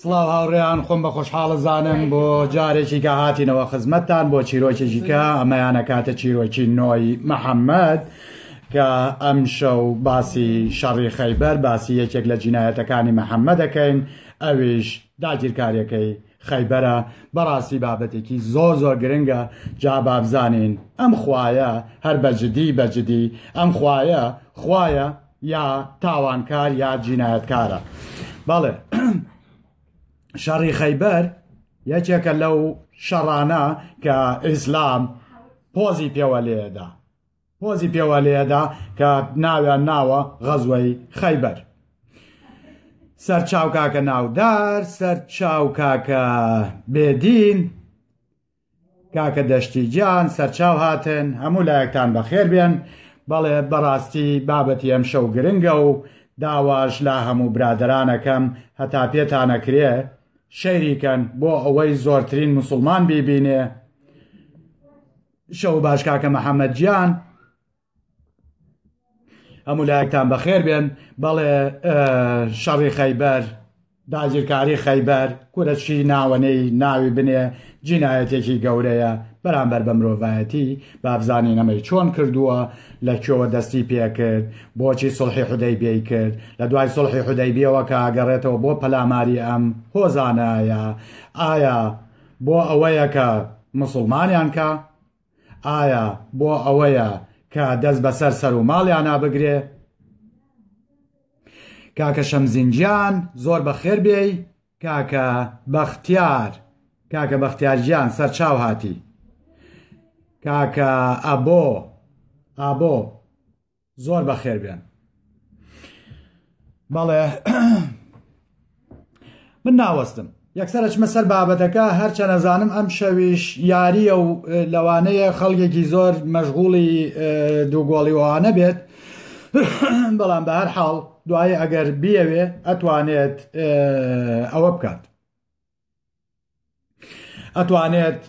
سڵاو هاوڕێیان خۆم بە خۆشحاڵە زانم بۆ جارێکی کە هاتینەوە خزمەتتان بۆ چیرۆکێکی کە ئەمەیانە کاتە چیرۆکی نۆی محەممەد کە ئەم شەو باسی شەڕی خەیبەر باسی یەکێک لە جینایەتەکانی محەممەد دەکەین ئەویش داگیرکاریەکەی خەیبەرە بەڕاستی بابەتێکی زۆر زۆر گرنگە جا بابزانین ئەم خوایە هەر بەجددی بەجددی ئەم خوایە خوایە یا تاوانکار یا جینایەتکارە بەڵێ شەڕی خەیبەر یەکێکە لەو شەڕانە کە ئیسلام پۆزی پێوە لێدا پۆزی پێوە لێدا کە ناویان ناوە غەزوەی خەیبەر سەر چاوکاکە ناودار سەر چاوکاکە بێدین کاکە دەشتی گیان سەرچاو هاتن هەموو لایەکتان بەخێر بێن بەڵێ بەڕاستی بابەتی ئەمشەو گرنگە و داواش لە هەموو برادەرانەکەم هەتا پێتانەکرێ شەیری کەن بۆ ئەوەی زۆرترین موسوڵمان بیبینێ شەو باش کاکە محمد گیان. هەموو لایەکتان بەخێر بێن بەڵێ شەڕی خەیبەر داگیرکاری خەیبەر کورەچی ناوەنەی ناوی بنێ جینایەتێکی گەورەیە بەرامبەر بە مرۆڤایەتی بابزانین ئەمەی چۆن کردووە لە کوێوە دەستی پێکرد بۆچی سڵحی حدەی بێی کرد لە دوای سڵحی حدەی بێەوە کە ئەگەڕێتەوە بۆ پەلاماری ئەم هۆزانایە ئایا بۆ ئەوەیە کە مسلمانیان کە ئایا بۆ ئەوەیە کە دەست بەسەر سەر و ماڵیانا بگرێ کاکە شەمزینجیان زۆر بەخێر بێی کاکە بەختیار کاکە بەختیارجیان سەرچاو هاتی کاکە ئەبۆ ئابۆ زۆر بەخێر بێن بەڵێ من ناوەستم یەکسەر ئەچمە سەر بابەتەکە هەرچە نەزانم ئەم شەویش یاریە و لەوانەیە خەڵکێکی زۆر مەشغوڵی دووگۆڵیوانە بێت بەڵام بە هەر حاڵ دوایی ئەگەر بیەوێ ئەتوانێت ئەوە بکات ئەتوانێت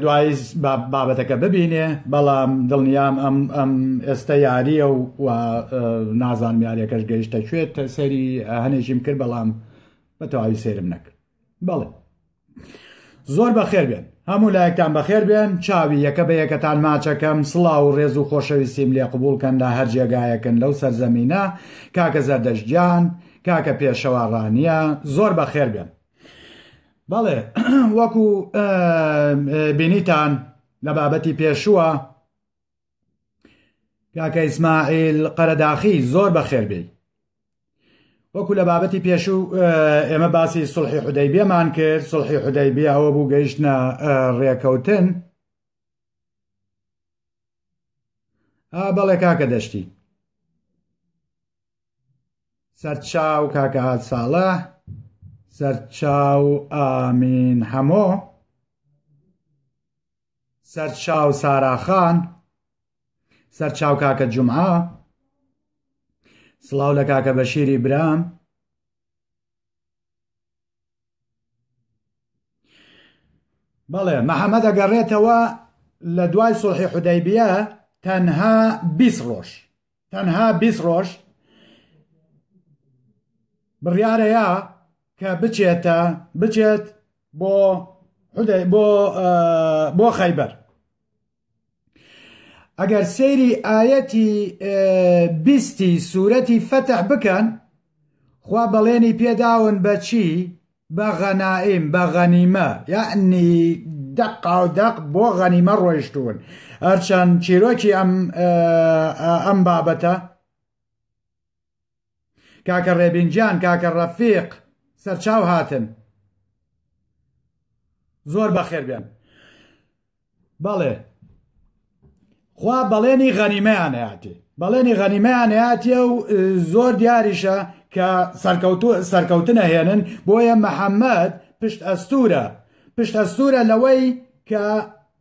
دوای بابەتەکە ببینێ بەڵام دڵنیام ئەم ئەم ئێستا یاریە و نازان یاریەکەش گەیشتە کوێت سەری هەنێکیم کرد بەڵام بە تەواوی سێرم نەکرد بەڵێ زۆر بەخێر بێن هەموو لایەکتان بەخێر بێن چاوی یەکە بە یەکەتان ماچەکەم سڵاو و ڕێز و خۆشەویستیم لێ قوبولکەن لە هەر جێگایەکن لەو سەرزەمینە کاکە زەردەشجان کاکە پێشەوە ڕانیە زۆر بەخێر بێن بەڵێ وەکو بینیتان لە بابەتی پێشووە کاکە ئیسماعیل قەرەداخی زۆر بەخێربێ وەکو لە بابەتی پێشوو ئێمە باسی سڵحی حدەی بێمان کرد سڵحی حدەی بێ ئەوە بوو گەیشتە ڕێکەوتن بەڵێ کاکە دەشتی سەرچاو کاکە هات ساڵە سەرچاو ئامین هەمۆ سەرچاو ساراخان سەرچاو کاکە جمعە سڵاو لە کاکە بەشیری برام بەڵێ محەممەد ئەگەڕێتەوە لە دوای سڵحی حودەیبە تەنها بیست ڕۆژ تەنها بیست ڕۆژ بڕیارەیە کە بچێتە بچێت بۆ بۆ بۆ خەیبەر ئەگەر سەیری ئاەتی بیستی سوورەتی فەتح بکەن خوا بەڵێنی پێداون بەچی بە غەنائیم بە غەنیمە یەعنی دەقاو دەق بۆ غەنیمە ڕۆیشتوون هەرچەند چیرۆکی ئەم ئەم بابەتە کاکە ڕێبینجان کاکە ڕەفیق سەرچاو هاتن زۆر بەخێر بێن بەڵێ خوا بەڵێنی غەنیمەیان هاتی بەڵێنی غەنیمەیان هاتیە و زۆر دیاریشە کە سەرکەوتو سەرکەوتنە هێنن بۆیە محەممەد پشت ئەستورە پشت ئەستورە لەوەی کە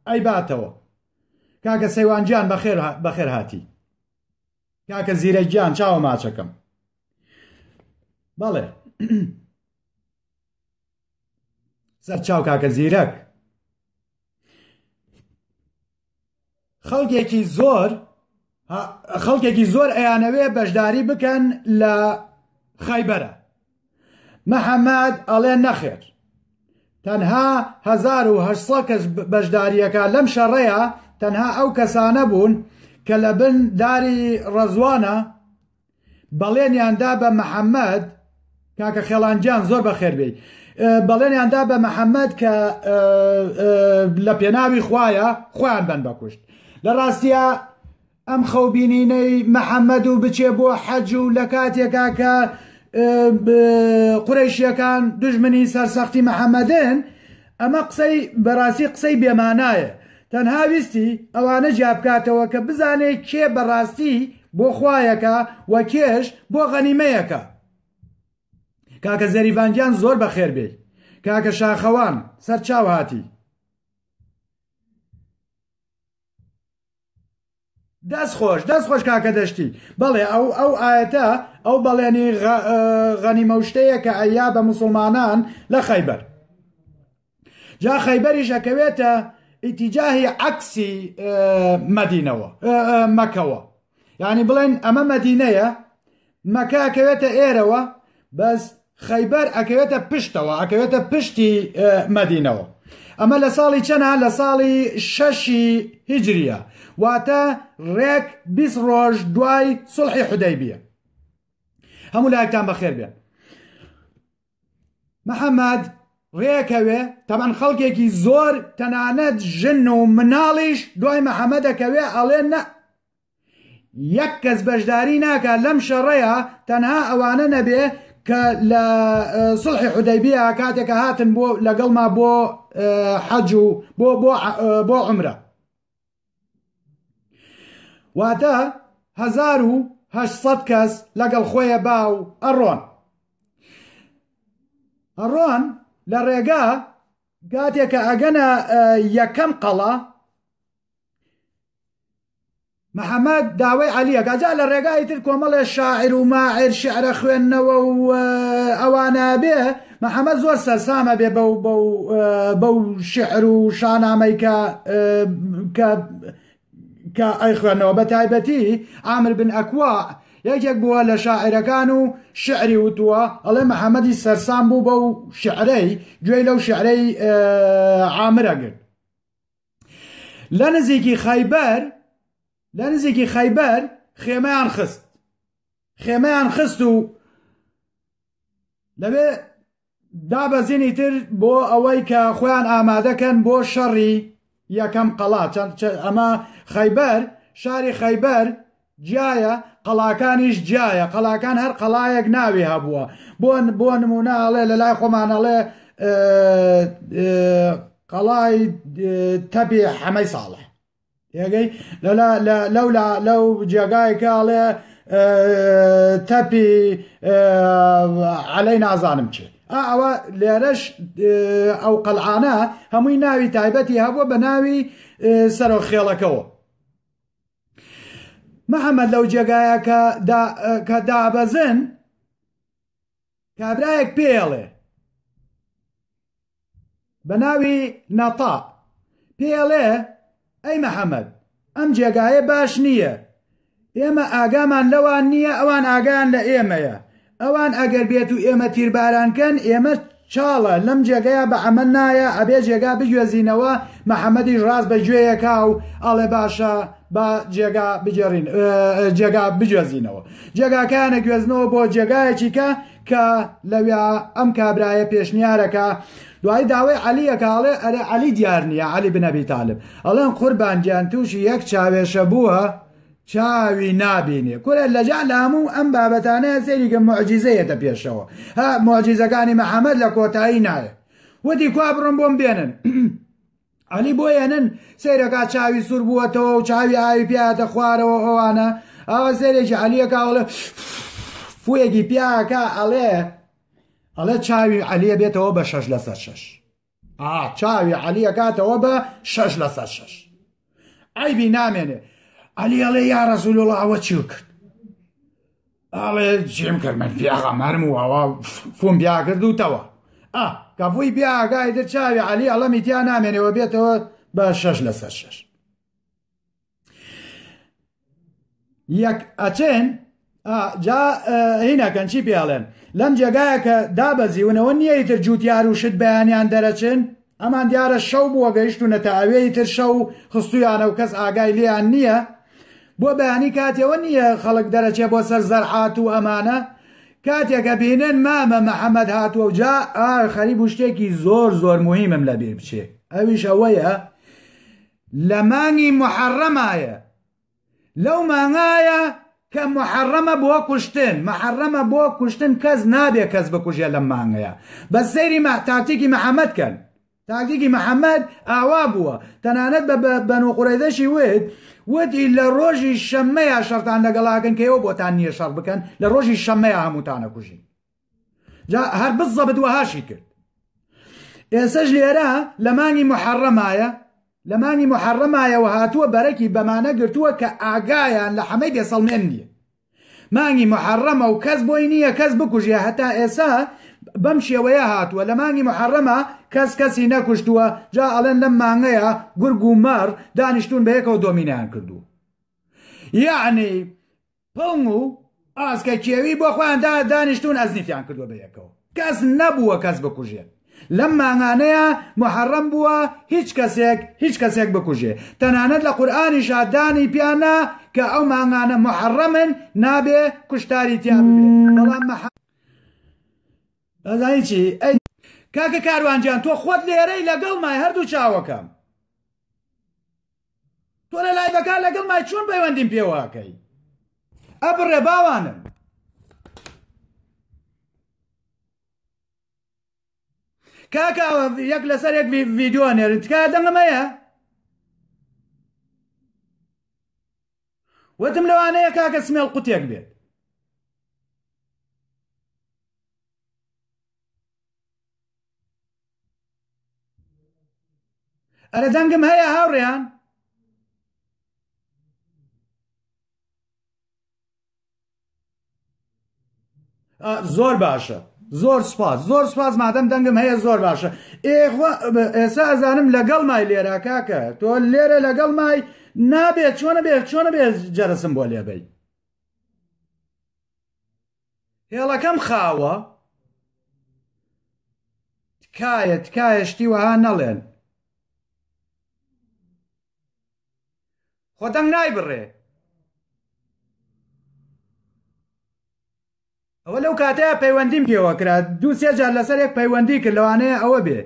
ئەیباتەوە کاکە سەیوانجیان بەخێر بەخێر هاتی کاکە زیرە گیان چاوە ماچەکەم بەڵێ سەر چاو کاکە زیرەک خەڵکێکی زۆر خەڵکێکی زۆر ئەیانەوێ بەشداری بکەن لە خەیبەرە محەممەد ئەڵێ نەخێر تەنها 1970 کەس بەشداریەکە لەم شەڕەیە تەنها ئەو کەسانە بوون کە لە بن داری ڕەزوانە بەڵێنیان دا بە محەممەد کاکە خێڵانجان زۆر بەخێر بێ بەڵێنیان دا بە محەممەد کە لە پێناوی خویە خۆیان بن بەکوشت لە ڕاستە ئەم خەوببینینەی محەممەد و بچێ بۆ حەج و لە کاتێکا کە قورەشیەکان دژمنی سەرسەختی محەممەدن ئەمە قسەی بەراستی قسەی بێ مانایە تەنها ویستی ئەوانە جیابکاتەوە کە بزانێ کێ بەراستی بۆ خوایەکا و کێش بۆ غەنیمەیەکا کاکە زەریڤان گیان زۆر بەخێر بێی کاکە شاخەوان سەرچاو هاتی. دەست خۆش دەست خۆش کاکە دەشتی بەڵێ ئەو ئەو ئاەتە ئەو بەڵێنی غەنیمەشتەیە کە ئەیا بە مسلمانان لە خەیبەر جا خەیبەریش ئەکەوێتە ئیتیجاهی عکسی مەدینەوە مەکەوە یعنی بڵێن ئەمە مەدینەیە مەکە ئەکەوێتە ئێرەوە بەس خەیبەر ئەکەوێتە پشتەوە ئەکەوێتە پشتی مەدینەوە ئەمە لە ساڵی چەنا لە ساڵی شەشی هیجریە واتە ڕێک بیست ڕۆژ دوای سڵحی حدەی بیە هەموو لایەکتان بەخێر بێن محەممەد ڕێکەوێ تەمان خەڵکێکی زۆر تەنانەت ژن و مناڵیش دوای محەممەدەکەوێ ئەڵێ نە یەک کەس بەشداری ناکات لەم شەڕەیە تەنها ئەوانە نەبێ کە لە سڵحی حودەیبیە کاتێکە هاتن بۆ لەگەڵما بۆ حەج و بۆ بۆ عمرە واتە 1970 کەس لەگەڵ خۆیە با و ئەڕۆن ئەڕۆن لە ڕێگا گاتێکە ئەگەنە یەکەم قەڵا محەمەد داوای عەلی ئەکا جا لە ڕێگای تر کۆمەڵێ شاعر و ماعر شعرە خوێندنەوە و ئەوانە بێ محەمەد زۆر سەرسامە بێ بەو بەو بەو شعر و شانامەی کە کە کە ئەی خوێندنەوە بە تایبەتی ئامر بن ئەکوا یەکێک بووە لە شاعرەکان و شعری وتووە ئەڵێ محەممەدی سەرسان بوو بەو شعرەی گوێی لەو شعرەی عامرەگرت لە نزیکی خەیبەر لە نزیکی خەیبەر خێمەیان خست خێمەیان خست و لەوێ دابەزینی تر بۆ ئەوەی کە خۆیان ئامادەکەن بۆ شەڕی یەکەم قەڵا چەند ئەمە خەیبەر شاری خەیبەر جیایە قەڵاکانیش جیایە قەڵاکان هەر قەڵایەک ناوی هەبووە بۆ بۆ نمونە ئەڵێ لە لای خۆمان ئەڵێ قەڵای تەبێ حەمەی ساڵح یەگەی لەولا لەو جێگایکە ئەڵێ تەپی عەلەی نازانم چێ ئەوە لێرەش ئەو قەلعانە هەمووی ناوی تایبەتی هەبووە بە ناوی سەرۆ خێڵەکەەوە محەممەد لەو جێگایە کە دابەزن کابراایەک پێڵێ بە ناوی نەتا پێڵێ ئەی محەممەد ئەم جێگایە باش نییە ئێمە ئاگامان لەوان نییە ئەوان ئاگان لە ئێمەیە ئەوان ئەگەر بێتو ئێمە تیرباران کەن ئێمە چاڵە لەم جێگەیا بە عەمەل نایە ئەبێ جێگا بگوێزینەوە محمدیش ڕاست بە گوێیە کا و ئەڵێ باشە با جێگا بگێڕین جێگا بگوێزینەوە جێگاکەیان نەگوێزنەوە بۆ جێگایەکی کە کە لەویا ئەم کابرایە پێشنیارەکە دوای داوای عەلیەکە ئەڵێ ئەرێ عەلی دیار نییە عەلی بنەبی تالب ئەڵێن قوربان گیان تووشی یەک چاوێشە بووە چاوی نابینێ کورە لەجا لە هەموو ئەم بابەتانەیە سەیریکە معجیزەیەتە پێشەوە ها معجیزەکانی محەممەد لە کۆتایی نایە وتی کوا بڕم بۆم بێنن علی بۆ یەنن سەیرەکە چاوی سوور بووەتەوە و چاوی ئاوی پیاتە خوارەوە ئەوانە ئەوە سەرێکی علیەکەڵێ فویەکی پیاکە ئەڵێ ئەڵێ چاوی علیە بێتەوە بە شەش لەسەر شەش ئا چاوی عەلی ئەکاتەوە بە شەش لەسەر شەش ئایبی نامێنێ عەلی ئەڵێ یا ڕەزول وڵا ئەوە چی کرد ئاڵێ جێم کرد من پیاغا مەرم و ئەوە فۆم بیا کردوتەوە ئا کەفوی بیاگای دەر چاوی عەلی ئەڵەمی تیا نامێنەوە بێتەوە بە شەش لەسەر شەش یەک ئەچێن جا هینەکەن چی پێڵێن لەم جێگایە کە دابەزیونەوە نییە ئیتر جووتیار و شت بەیانیان دەرەچن ئەمان دیارە شەو بووە گەیشتونە تا ئەوێی تر شەو خستویانە و کەس ئاگای لیان نییە بۆ بەیانی کاتەوە نییە خەڵک دەرەچێ بۆ سەر زەرعات و ئەمانە کاتێکە بینن مامە محەممەد هاتووە و جا ئار خەریب و شتێکی زۆر زۆر مهمم لەبیر بچێ ئەویش ئەوەیە لە مانگی موحەڕەمایە لەو مانگایە کە موحەڕەمە بۆ کوشتن محەڕەمە بۆ کوشتن کەس نابێ کەس بکوژێ لەم مانگەیە بەس سەیری مە تاکتیکی محەممەد کەن تاکتیکی محەممەد ئاوا بووە تەنانەت بە بەنو قوڕەیزەشی وت وتی لە ڕۆژی شەممەیە شەڕتان لەگەڵاکەن کە ئێوە بۆتان نییە شەڕ بکەن لە ڕۆژی شەممەیە هەمووتانە کوژین جا هەر بزەبت وەهاشی کرد ئێسەش لێرە لە مانگی محەڕەمایە لە مانگی محەڕەمایەوە هاتووە بەرەکی بەمانە گرتووە کە ئاگایان لە حەمەی بێسەڵمێن نییە مانگی محەڕەمە و کەس بۆی نییە کەس بکوژە هەتا ئێسا بەم شێوەیە هاتووە لە مانگی محەڕەمە کەس کەسی نەکوشتووە جا ئەڵێن لەم مانگەیە گورگ و مەڕ دانیشتون بە یەکەوە دۆمینیان کردو یعنی پڵنگ و ئاسکە کێوی بۆ خۆیان دا دانیشتوون ئەزنیفیان کردووە بە یەکەوە کەس نەبووە کەس بکوژێت لەم مانگانەیە محەڕەم بووە هیچ کەسێک هیچ کەسێک بکوژێ تەنانەت لە قورئانیشا دانی پیانا کە ئەو مانگانە محەڕەمن نابێ کوشتاری تیا ببێ بەڵام مەح ئەزانی چی ئەی کاکە کاروانجان تۆ خۆت لێرەی لەگەڵ مای هەردوو چاوەکەم تۆ لە لایڤەکان لەگەڵ مای چۆن پەیوەندیم پێواکەی ئەبڕێ باوانم کاکە یەک لەسەر یەک ڤیددیو نێرن تکا دەنگەمەیە وتم لەوانەیە کاکە سمێڵ قوتێک بێت ئەرە دەنگم هەیە هاوڕێیان زۆر باشە زۆر سپاس زۆر سپاس مادەم دەنگم هەیە زۆر باشە ئێسا ئەزانم لەگەڵ مای لێرا کاکە تۆ لێرە لەگەڵ مای نابێت چۆنە بێت چۆنە بێت جەرەسم بۆ لێبەی هێڵەکەم خاوە تکایە تکایە شتی وەها نەڵێن خۆ دەنگ نایبڕێ ئەوە لەو کاتەیە پەیوەندیم پێوە کرا دوو سێ جار لەسەر یەک پەیوەندی کرد لەوانەیە ئەوە بێ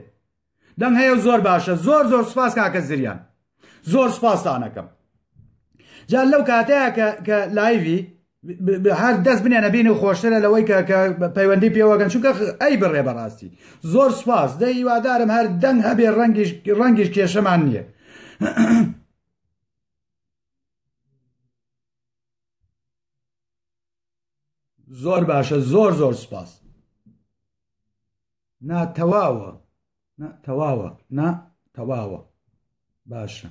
دەنگ هەیە و زۆر باشە زۆر زۆر سپاس کاکە زریان زۆر سپاستانەکەم جا لەو کاتەیە کە لایوی هەر دەست بنێنە بینی و خۆشترە لەوەی کە پەیوەندی پێوەگەن چونکە ئەی بڕێ بەڕاستی زۆر سپاس دە هیوادارم هەر دەنگ هەبێ ڕەنگیش ڕەنگیش کێشەمان نییە زۆر باشە زۆر زۆر سپاس نا تەواوە تەواوە نا تەواوە باشە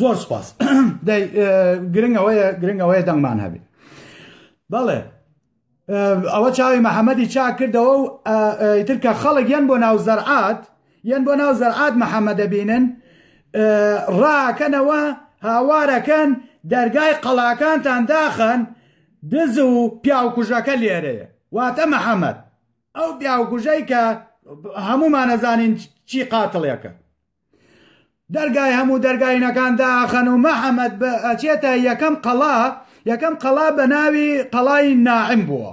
زۆر سپاس گرنگەوەیە گرنگەوەیە دەنگمان هەبێت بەڵێ ئەوە چاوی محەممەدی چاکردەوە و ئیتر کە خەڵک یەن بۆ ناو زەرعات یەن بۆ ناو زەرعات محەمە دەبینن ڕاکەنەوە هاوارەکەن دەرگای قەڵاکانتان داخەن دز و پیاوکوژەکە لێرەیە واتە محەمەد ئەو پیاوکوژەی کە هەمومانەزانین چی قاتڵێکە دەرگای هەموو دەرگاینەکان داخەن و محەمەد بە ئەچێتە یەکەم قەڵا یەکەم قەڵا بە ناوی قەڵای ناعم بووە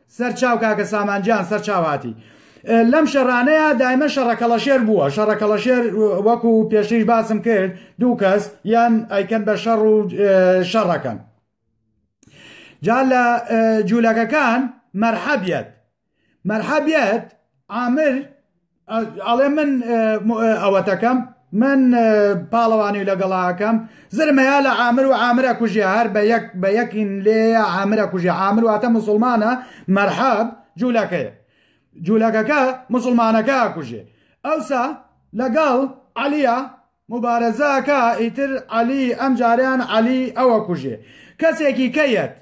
سەر چاو کاکە سامان جان سەر چاو هاتی لەم شەڕانەیە دایمە شەڕە کەڵەشێر بووە شەڕە کەڵەشێر وەکو پێشتریش باسم کرد دوو کەس یان ئەیکەن بە شەڕ و شەڕەکەن جا لە جوولەکەکان مەرحەبیەت مەرحەبیەت عامر ئەڵێ من ئەوەتەکەم من پاڵەوانی لەگەڵاکەم زرمەیە لە ئامر و ئامرە کوژی هەر بە یەک بە یەکین لێ ئامرە کوژی ئامر واتە مسلمانە مەرحەب جوولەکەیە جوولەکەکە مسلمانەکە کوژێ ئەوسا لەگەڵ عەلیە مبارەزەکە ئیتر عەلی ئەم جاریان عەلی ئەوە کوژێ کەسێکی کەیەت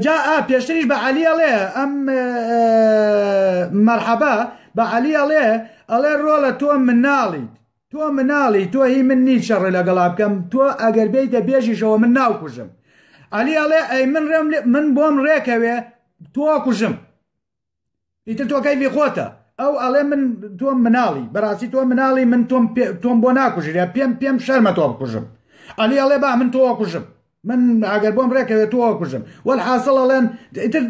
جا ئا پێشتریش بە عەلی ئەڵێ ئەم مەرحەبا بە عەلی ئەڵێ ئەڵێ ڕۆڵە تۆ مناڵیت تۆ مناڵی تۆ هی من نی شەڕێ لەگەڵا بکەم تۆ ئەگەر بێیتە بێژیشەوە من ناو کوژم عەلی ئەڵێ ئەی من ڕێم من بۆم ڕێکەوێ تۆ کوژم ئیتر تۆ کەیفی خۆتە ئەو ئەڵێ من تۆم مناڵی بەڕاستی تۆ مناڵی من تۆم تۆم بۆ ناکوژرە پێم پێم شەرمە تۆ بکوژم ئەلی ئەڵێ با من تۆ کوژم من ئەگەر بۆم ڕێکەوێت تۆ کوژم وەل حاصڵ ئەڵێن ئیتر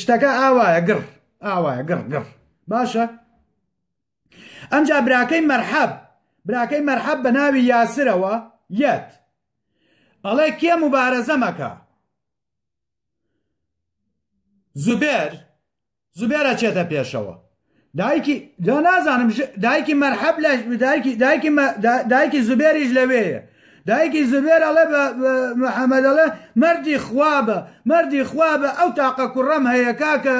شتەکە ئاوایە گڕ ئاوایە گڕ گڕ باشە ئەمجا براکەی مەرحەب براکەی مەرحەب بە ناوی یاسرەوە یەت ئەڵێ کێ مبارەزەمەکە زوبێر زوبێرە چێتە پێشەوە دایکی دا نازانم دایکی مەرحەب لە دایکی دایکی دایکی زوبێریش لەوەیە دایکی زوبێر ئەڵێ بە محەممەد ئەڵێ مردی خوابە مردی خوابە ئەو تاقە کوڕەم هەیە کاکە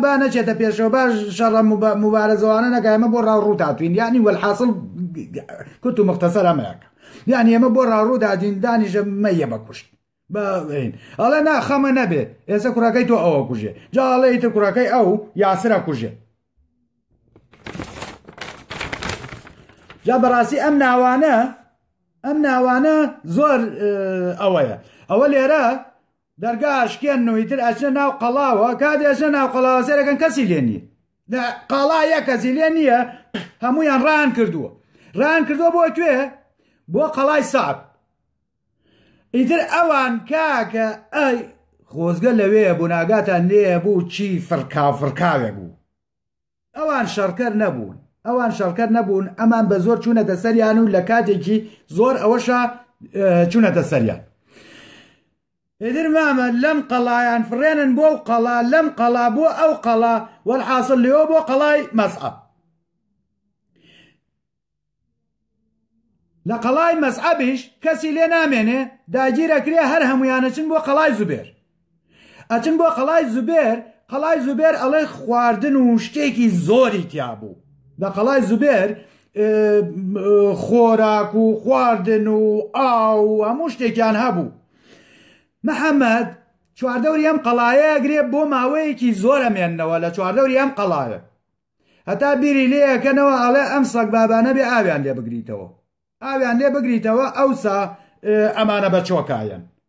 با نەچێتە پێشەوە باش شەڕە مبارەزەوانە نەکایمە بۆ ڕاو ڕوو تاتوین یعنی وەحاصل کوت و مختصر ئەمەیەکە یان ئێمە بۆ ڕاڕوودا دین دانیشە مەیە بە کوشت بەین ئەڵێ ناخەمە نەبێ ئێستا کوڕەکەی تۆ ئەوە کوژێ جاڵەی تە کوڕەکەی ئەو یاسرە کوژێ جا بەڕاستی ئەم ناوانە ئەم ناوانە زۆر ئەوەیە ئەوە لێرە دەرگاشکێن نویتر ئەچە ناو قەڵاوە کات ئەچە ناو قەڵاوە سێرەکەن کەسی لێنی لە قاڵا یە کەزی لێ نییە هەمویان ڕان کردووە ڕان کردووە بۆ کوێ بۆ قەڵای سعب ئیتر ئەوان کاکە ئەی خۆزگە لەوێ بوو ناگاتان لێ بوو چی فڕکاو فڕکاوێ بوو ئەوان شەڕکەر نەبوون ئەوان شەڕکەر نەبوون ئەمان بە زۆر چوونەتە سەریان و لە کاتێکی زۆر ئەوەشە چوونەتە سەریان ئیتر مامە لەم قەڵایان فڕێنن بۆ ئەو قەڵا لەم قەڵا بۆ ئەو قەڵا وەلحاسڵ لێەوە بۆ قەڵای مەسعەب لە قەڵای مەسعەبیش کەسی لێ نامێنێ داگیرەکرێ هەر هەمویانەچن بۆ قەڵای زوبێر ئەچن بۆ قەڵای زوبێر قەڵای زوبێر ئەڵێ خواردن و شتێکی زۆری تیابوو لە قەڵای زوبێر خۆراک و خواردن و ئاو و هەموو شتێکیان هەبوو محەممەد چواردەوری ئەم قەڵایە گرێ بۆ ماوەیەکی زۆرە مێنەوە لە چواردەوری ئەم قەڵاە هەتا بیری لێەکەنەوە ئەڵێ ئەم سەگ بابانە بێ ئاویان لێ بگریتەوە ئاویان لێ بگریتەوە ئەوسا ئەمانە بە چۆکایەن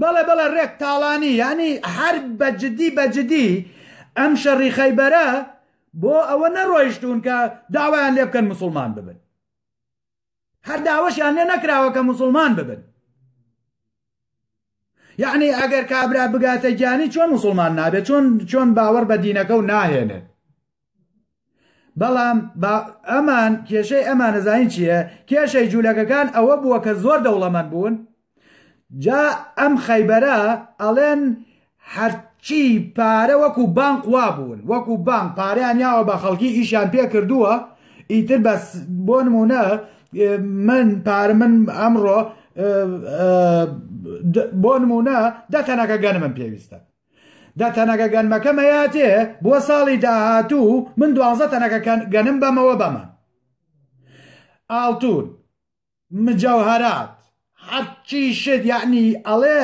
بەڵێ بەڵێ ڕێک تاڵانی یانی هەر بە جدی بە جدی ئەم شەڕی خەیبەرە بۆ ئەوە نەڕۆیشتون کە داوایان لێ بکەن مسلمان ببن هەر داوەشیان لێ نەکراوە کە مسلمان ببن یعنی ئەگەر کابرا بگاتە گیانی چۆن مسلمان نابێت چۆن چۆن باوەڕ بە دینەکە و ناهێنێت بەڵام ئەمان کێشەی ئەمانە زانین چییە کێشەی جوولەکەکان ئەوە بووە کە زۆر دەوڵەمەند بوون جا ئەم خەیبەرە ئەڵێن هەرچی پارە وەکو بانک وا بوون وەکو بانک پاریان یاوە بە خەڵکی ئیشیان پێ کردووە ئیتر بەس بۆ نمونە من پار من ئەمڕۆ بۆ نمونە دە تەنەکە گەنمم پێویستە دە تەنەکە گەنمەکەم هەیاتێ بۆ ساڵی داهاتوو من دوانزە تەنەکە گەنم بەمەوە بەمە ئاڵتون مجەوهرات حەچی شت یعنی ئەڵێ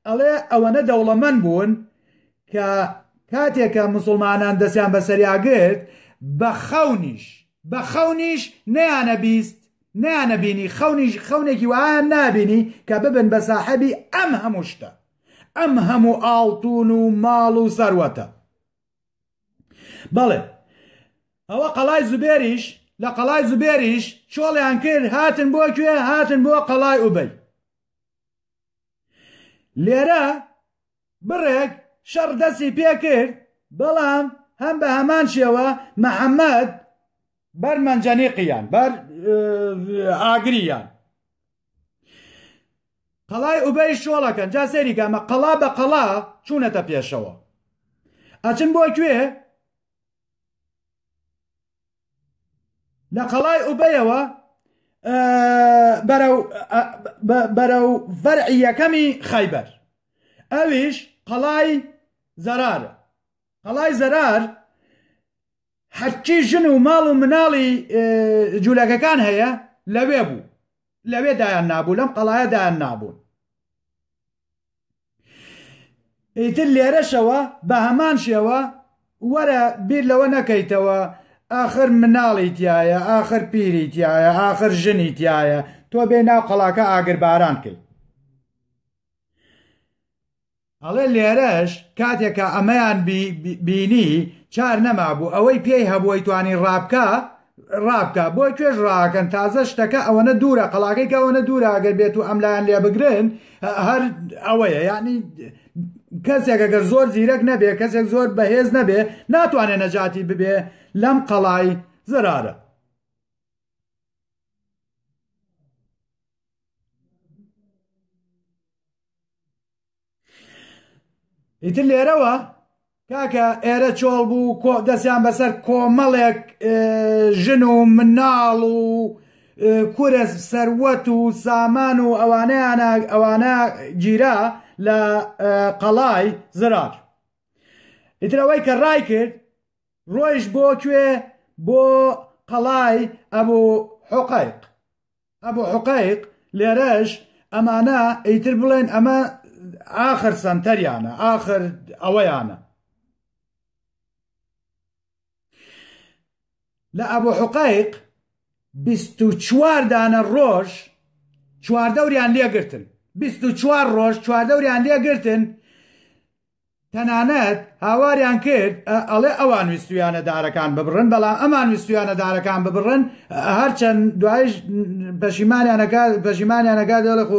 ئەڵێ ئەوەنە دەوڵەمەند بوون کە کاتێکە مسلمانان دەستیان بەسەریاگرت بە خەونیش بە خەونیش نیانە بیست نیانە بینی خەونیش خەونێکی وایان نابینی کە ببن بە ساحەبی ئەم هەموو شتە ئەم هەموو ئاڵتون و ماڵ و سەروەتە بەڵێ ئەوە قەڵای زوبێریش لە قەڵای زوبێریش چۆڵیان کرد هاتن بۆ کوێ هاتن بۆ قەڵای ئوبەی لێرە بڕێک شەڕ دەستی پێ کرد بەڵام هەم بە هەمان شێوە محەممەد بەر مەنجەنیقیان بەر ئاگریان قەڵای ئوبەی شۆڵەکەن جا سەیری گامە قەڵا بە قەڵا چوونەتە پێشەوە ئەچن بۆ کوێ لە قەڵای ئوبەیەوە بەرە و فەرعی یەکەمی خایبەر ئەویش قەڵای زەرارە قەڵای زەرار هەرچی ژن و ماڵ و مناڵی جوولەکەکان هەیە لەوێ بوو لەوێ دایان نابوو لەم قەڵایە دایان نابوون ئیتر لێرەشەوە بە هەمان شێوە وەرە بیر لەوە نەکەیتەوە ئاخر مناڵی تایە ئاخر پیری تایە ئاخر ژنی تایە تۆ بێ ناو قەڵاکە ئاگرباران کرد ئەڵێ لێرەش کاتێ کە ئەمەیان بینی چار نەمابوو ئەوەی پێی هەبوو ئەیتوانی ڕابکا ڕابکا بۆ کوێش ڕاکەن تازە شتەکە ئەوەنە دوورە قەڵاکەی کەەوەە دوورە ئەگەر بێت و ئەم لایەن لێ بگرن هەر ئەوەیە یعنی کەسێک ئەگەر زۆر زیرەک نەبێ کەسێک زۆر بەهێز نەبێ ناتوانێت نەجاتی ببێ لەم قەڵای زرارە ئیتر لێرەوە کاکە ئێرە چۆڵ بوو کۆ دەستیان بەسەر کۆمەڵێک ژن و مناڵ و کورە سەروەت و سامان و ئەوانیان ئەوانە گیرا لە قەڵای زرار ئیترەوەی کە ڕای کرد ڕۆیش بۆ کوێ بۆ قەڵای ئەبوو حقایق ئەبو حوقەیق، لێرەش ئەمانە ئیتر بڵێن ئەمە ئاخر سەنتەریانە، ئاخر ئەوەیانە. لە ئەبو حوقەیق بیست و چوار دانە ڕۆژ چواردەوریان لێگرتن، بیست و چوار ڕۆژ چواردەوریان لێگرتن، تەنانەت هاواریان کرد ئەڵێ ئەوان ویستویانە دارەکان ببڕن بەڵام ئەمان ویستویانە دارەکان ببڕن هەرچەند دوایش پەشیمانیانەکە پەشیمانیانەکە دەڵێ خۆ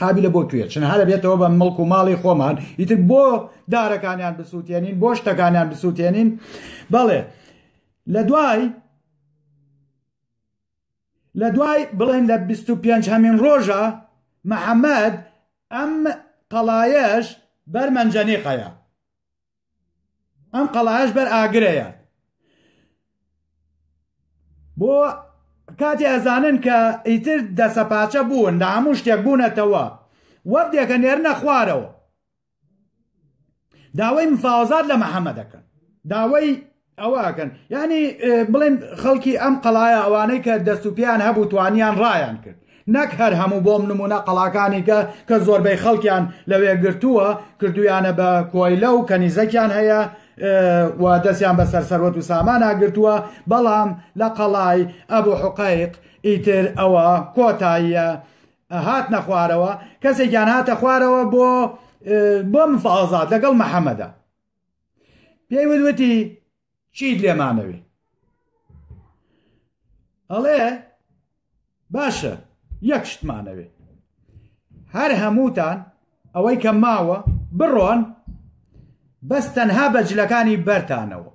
قابلە بۆ کوێ چن هەرە بێتەوە بە مڵک و ماڵی خۆمان ئیتر بۆ دارەکانیان بسووتێنین بۆ شتەکانیان بسووتێنین بەڵێ لە دوای لە دوای بڵێن لە بیست و پێنج هەمین ڕۆژە محەمەد ئەم قەڵایەش بەر مەنجەنیقەیە ئەم قەڵایەش بەر ئاگرەیە بۆ کاتی ئەزانن کە ئیتر دەسەپاچە بوون لە هەموو شتێک بوونەتەوە وەردێکە نێرنە خوارەوە داوای مفاوەزات لە محەممە دەکەن داوای ئەوەکەن یعنی بڵێن خەڵکی ئەم قەڵایە ئەوانەی کە دەست و پیان هەبوو توانیان ڕایان کرد نەک هەر هەموو بۆم نمونە قەڵاکانی کە کە زۆربەی خەڵکیان لەوێ گرتووە کردویانە بە کۆیلە و کەنیزەکیان هەیە و دەستیان بە سەرسەروەت و سامانە گرتووە بەڵام لە قەڵای ئەبوو حقایق ئیتر ئەوە کۆتاییە هاتنە خوارەوە کەسێکیان هاتە خوارەوە بۆ بۆ مفازات لەگەڵ محەممەدا پێی وتوتی چیت لێمانەوێ ئەڵێ باشە یەک شتمانەوێ هەر هەمووتان ئەوەی کە ماوە بڕۆن بەس تەنها بە جلەکانی بەرتانەوە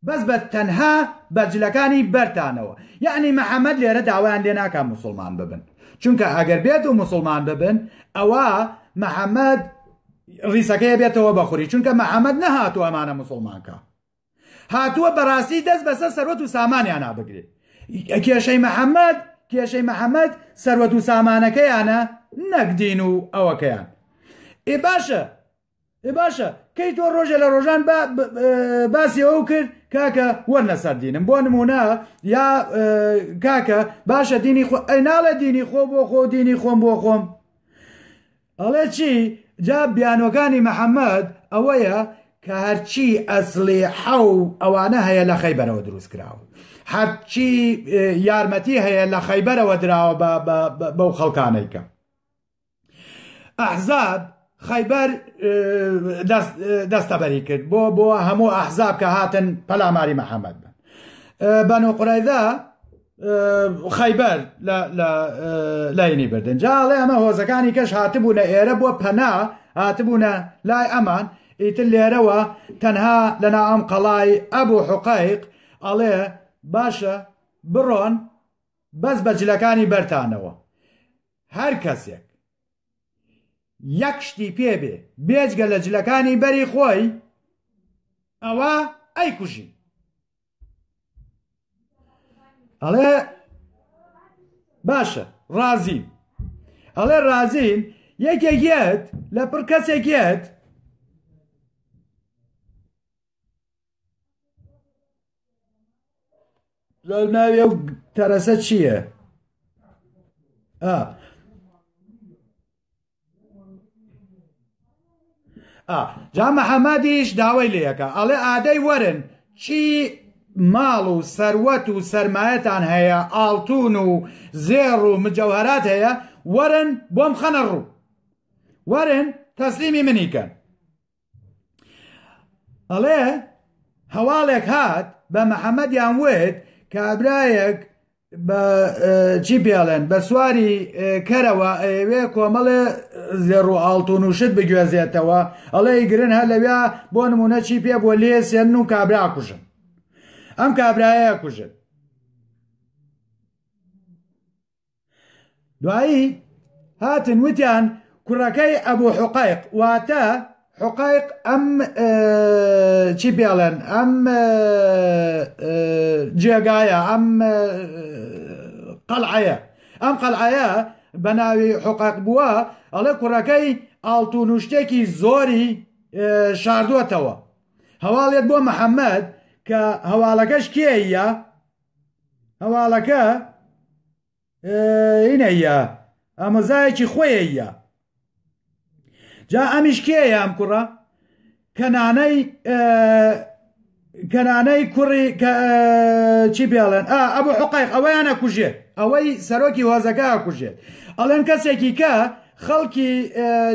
بەس بە تەنها بە جلەکانی بەرتانەوە یەعنی محمد لێرە داوایان لێ ناکا موسڵمان ببن چونکە ئەگەر بێت و موسڵمان ببن ئەوە محمد ڕیسەکەی بێتەوە بەخوری چونکە محمد نەهاتوو ئەمانە موسڵمانکە هاتووە بەڕاستی دەست بەسەر سەروەت و سامانیان نابگرێت کێشەی محەممەد کێشەی محەممەد سەروەت و سامانەکەیانە نەکدین و ئەوەکەیان ئێ باشە ئێ باشە کەی تۆ ڕۆژە لە ڕۆژان باسی ئەو کرد کاکە وەرنە سەر دینم بۆ نمونە یا کاکە باشە دینی خۆ ئەی ناڵێ دینی خۆ بۆ خۆ دینی خۆم بۆ خۆم ئەڵێ چی جا بیانۆکانی محەممەد ئەوەیە کە هەرچی ئەسلی حەو ئەوانە هەیە لە خەیبەرەوە دروست کراوە هەرچی یارمەتی هەیە لە خەیبەرەوە دراوە بەو خەڵکانێکە ئەحزاب خەیبەر دەستەبەری کرد بۆ بۆ هەموو ئەحزاب کە هاتن پەلاماری محەممەد بن بەن و قرایدا خەیبەر لاینی بردن جاڵێ ئەمە هۆزەکانی کەش هاتبوونە ئێرە بۆ پەنا هاتبوونە لای ئەمان ئیتر لێرەوە تەنها لەنا ئەم قەڵای ئەبوو حقایق ئەڵێ باشە بڕۆن بەس بەجلەکانی بەرتانەوە هەر کەسێک یەک شتی پێ بێ بێجگە لە جلەکانی بەری خۆی ئەوە ئەی کوژی ئەڵێ باشە ڕازی ئەڵێ ڕازین یەکێکیت لە پڕ کەسێکیت لەو ناوی ئەو تەرەسە چییە؟ جا محەممەدیش داوای لەکە ئەڵێ ئادەی وەرن چی ماڵ و سەروەت و سرمایەتان هەیە ئاڵتون و زێڕ و مجەوهرات هەیە وەرن بۆم خەنە ڕوو وەرن تەسلیمی منیکەن ئەڵێ هەواڵێک هات بە محەممەدیان وت کابرایەک چی پێڵێن بە سواری کەرەوە ئەوێ کۆمەڵێ زێڕ و ئاڵتون و شت بگوێزێتەوە ئەڵێ گرن هەر لەویا بۆ نمونە چی پێ بۆ لێ سێن و کابرا کوژن ئەم کابرایە کوژن دوایی هاتن وتیان کوڕەکەی ئەبوو حقایق واتە حقایق ئەم چی پێڵێن ئەم جێگایە ئەم قەلعەیە ئەم قەلعەیە بە ناوی حقایق بووە ئەڵێ کوڕەکەی ئاڵتون و شتێکی زۆری شاردوەتەوە هەواڵێت بۆ محەممەد کە هەواڵەکەش کێە هەواڵەکە هینەیە ئامۆزایەکی خۆیە جا ئەمیش کێیە ئەم کوڕە کەنانەی کەنانەی کوڕی چی پێڵێن ئەبوو حقایق ئەوەیانە کوژێت ئەوەی سەرۆکی هۆزەکە کوژێت ئەڵێن کەسێکی کە خەڵکی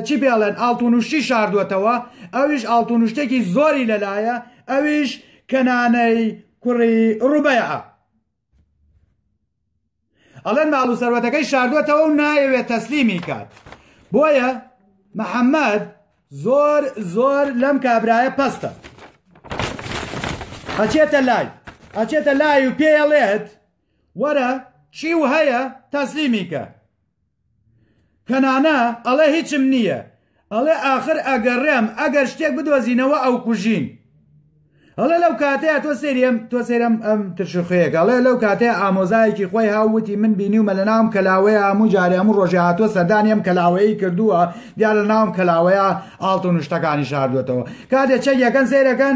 چی پێڵێن ئاڵتونوشتی شاردوەتەوە ئەویش ئاڵتونوشتێکی زۆری لەلایە ئەویش کەنانەی کوڕی ڕوبەیعە ئەڵێن ماڵ و سەروەتەکەی شاردوەتەوە و نایەوێت تەسلیمی کات بۆیە محەممەد زۆر زۆر لەم کابرایە پەستە ئەچێتە لای ئەچێتە لای و پێڵێت وەرە چی و هەیە تەسلیمی کە کەنانە ئەڵێ هیچم نییە ئەڵێ ئاخر ئەگەڕێم ئەگەر شتێک بدۆزینەوە ئەوکوژین ئەڵێ لەو کاتەیە تۆ سێریم تۆ سێرم ئەم ترشخەیەک ئەڵێ لەو کاتەیە ئامۆزایەکی خۆی هاووتی من بینیومە لە ناوم کەلاوەیە هەموو جارێ هەموو ڕۆژێ هاتووە سەردانی ئەم کەلاوەیەی کردووە دیارە ناوم کەلاوەیە ئاڵتون شتەکانی شاردوێتەوە کاتێ چەک یەکەن سەیرەکەن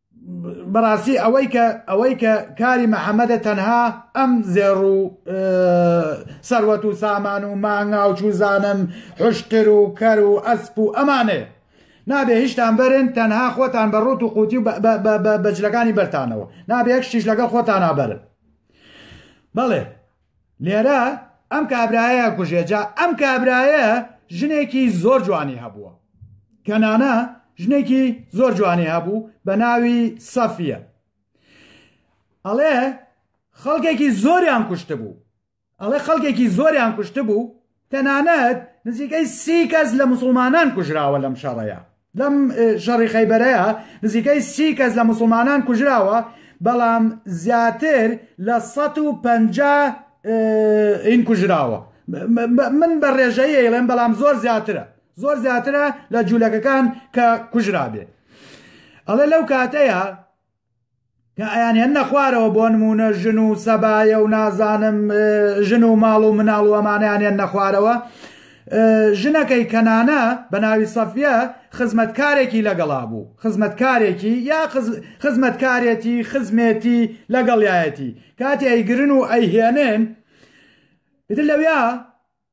بەڕاستی ئەوەی کە ئەوەی کە کاری محەممەدە تەنها ئەم زێڕ و سەروەت و سامان و مانگا و چوزانم حشتر و کەر و ئەسپ و ئەمانێ نابێ هیچتان بەرن تەنها خۆتان بە ڕوت و قوتی و بەجلەکانی بەرتانەوە نابێ یەک شتیش لەگەڵ خۆتان نابەرن بەڵێ لێرە ئەم کابرایە کوژێ جا ئەم کابرایە ژنێکی زۆر جوانی هەبووە کەنانە ژنێکی زۆر جوانی هەبوو بە ناوی سەفیە ئەڵێ خەڵکێکی زۆریان کوشت بوو ئەڵێ خەڵکێکی زۆریان کوشت بوو تەنانەت نزیکەی سی کەس لە موسڵمانان کوژراوە لەم شەڕەیا لەم شەڕی خەیبەرەیە نزیکەی سی کەس لە موسڵمانان کوژراوە بەڵام زیاتر لە 150 ئین کوژراوە من بە ڕێژەیە ئێڵێن بەڵام زۆر زیاترە زۆر زیاترە لە جوولەکەکان کە کوژرابێ ئەڵێ لەو کاتەیە کە ئەیانهێننە خوارەوە بۆ نموونە ژن و سەبایە و نازانم ژن و ماڵ و مناڵ و ئەمانیان هێننە خوارەوە ژنەکەی کەنانە بە ناوی سەفیە خزمەتکارێکی لەگەڵا بوو خزمەتکارێکی یا خزمەتکارێتی خزمێتی لەگەڵایەتی کاتی ئەیگرن و ئەیهێنن لەویا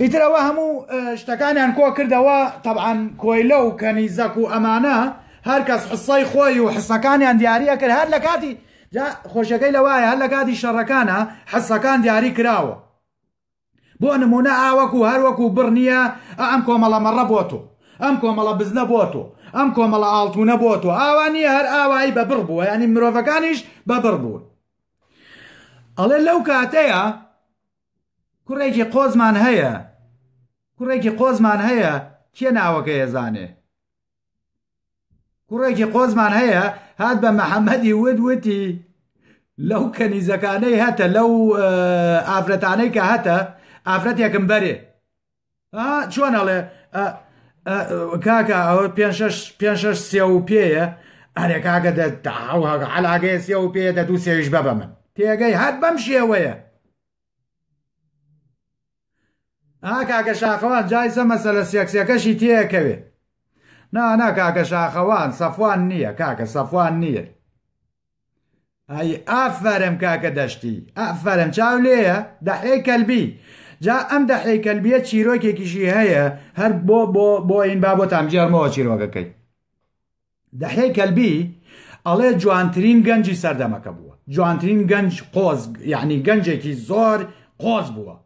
ئیتر ئەوە هەموو شتەکانیان کۆ کردەوە تەعاان کۆیلە و کەنیزەک و ئەمانە هەرکەس حسای خۆی و حسەکانیان دیارە کرد هەر لە کاتی خۆشەکەی لەوایە هەر لە کاتی شەڕەکانە حسەکان دیاری کراوە بۆ نمونە ئاوەکو هەروەکو بڕنیە ئەم کۆمەڵە مەڕە بۆ تۆ ئەم کۆمەڵە بزنە بۆ تۆ ئەم کۆمەڵە ئاڵتونە بۆ تۆ ئاوانی هەر ئاوایی بە بڕ بووە ینی مرۆڤەکانیش بە بڕ بوون ئەڵێ لەو کاتەیە کوڕێکی قۆزمان هەیە کوڕێکی قۆزمان هەیە کێ ناوەکەی ئەزانێ کوڕێکی قۆزمان هەیە هات بە محەممەدی ود وتی لەو کەنیزەکانەی هەتە لەو ئافرەتانەی کە هەتە ئافرەتێکم بەرێ چۆن ئەڵێ کاکە ئەوە پێ پێ سێ و پێەیە ئەرێ کاکە علاگەیە سێ و پێ دە دوو سێویش بە بە من تێگەی هەر بەم شێوەیە ئا کاکە شاخەوان جای سە مەسەلە سێکسەکەشی تێکەوێ نانا کاکە شاخەوان سەفوان نییە کاکە سەفوان نییە ئەی ئافەرم کاکە دەشتی ئافەرم چاو لێیە دەحێی کەلبی جا ئەم دەحێی کەلبیە چیرۆکێکیشی هەیە هەر بۆ بۆ بۆ ئین با بۆتان بجێڕمەوە چیرۆکەکەی دەحێی کەلبی ئەڵێ جوانترین گەنجی سەردەمەکە بووە جوانترین گەنج قۆز یعنی گەنجێکی زۆر قۆز بووە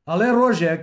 ئەڵێ ڕۆژێک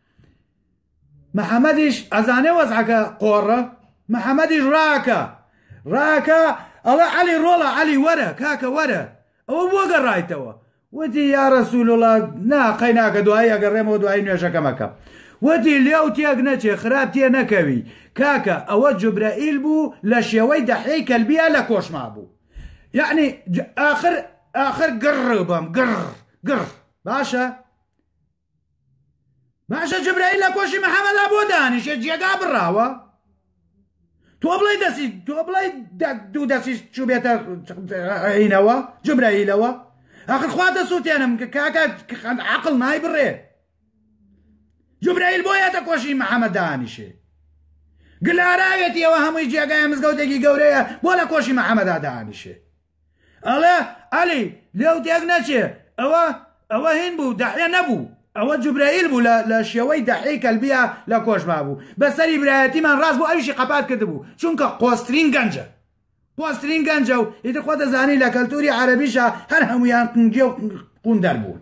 محەمەدیش ئەزانێ وەزعەکە قۆڕە محەمەدیش ڕاکە ڕاکە ئەڵە عەلی ڕۆڵە عەلی وەرە کاکە وەرە ئەوە بۆ گەڕایتەوە وتی یا ڕسولوڵە نا قەیناکە دوایی ئەگەڕێمەوە دوایی نوێژەکەمەکە وتی لێو تێک نەچێ خراپ تێ نەکەوی کاکە ئەوە جوبرەئیل بوو لە شێوەی دەحەی کەلبیا لە کۆشما بوو یعنی آخر آخر گڕ بەم گڕ گڕ باشە باشە جبرەیل لە کۆشی محەمەدا بۆ دانیشێ جێگا بڕاوە تۆ بڵێ دەسی تۆ بڵێ دوو دەسیش چوبێتە عینەوە جبرەیلەوە ئەخر خوا دەسووتێنم کە کاکە خەند عقل نای بڕێ جبرەیل بۆ یاتە کۆشی محەمە دانیشێ گلاراوێتی ئەوە هەمووی جێگای مزگەوتێکی گەورەیە بۆ لە کۆشی محەمەدا دانیشێ ئەڵێ عەلی لێو تێک نەچێ ئەوە ئەوە هین بوو دەحێ نەبوو ئەوە جوبرەیل بوو لە شێوەی دەحێی کەلبیا لە کۆشما بوو بەسەری برایەتیمان ڕاست بوو ئەویشی قەپات کرد بوو چونکە قۆسترین گەنجە قۆسترین گەنجە و ئیتر خۆ دەزانی لە کەلتوری عەرەبیشە هەر هەمویان قنگێ و قوندەر بوون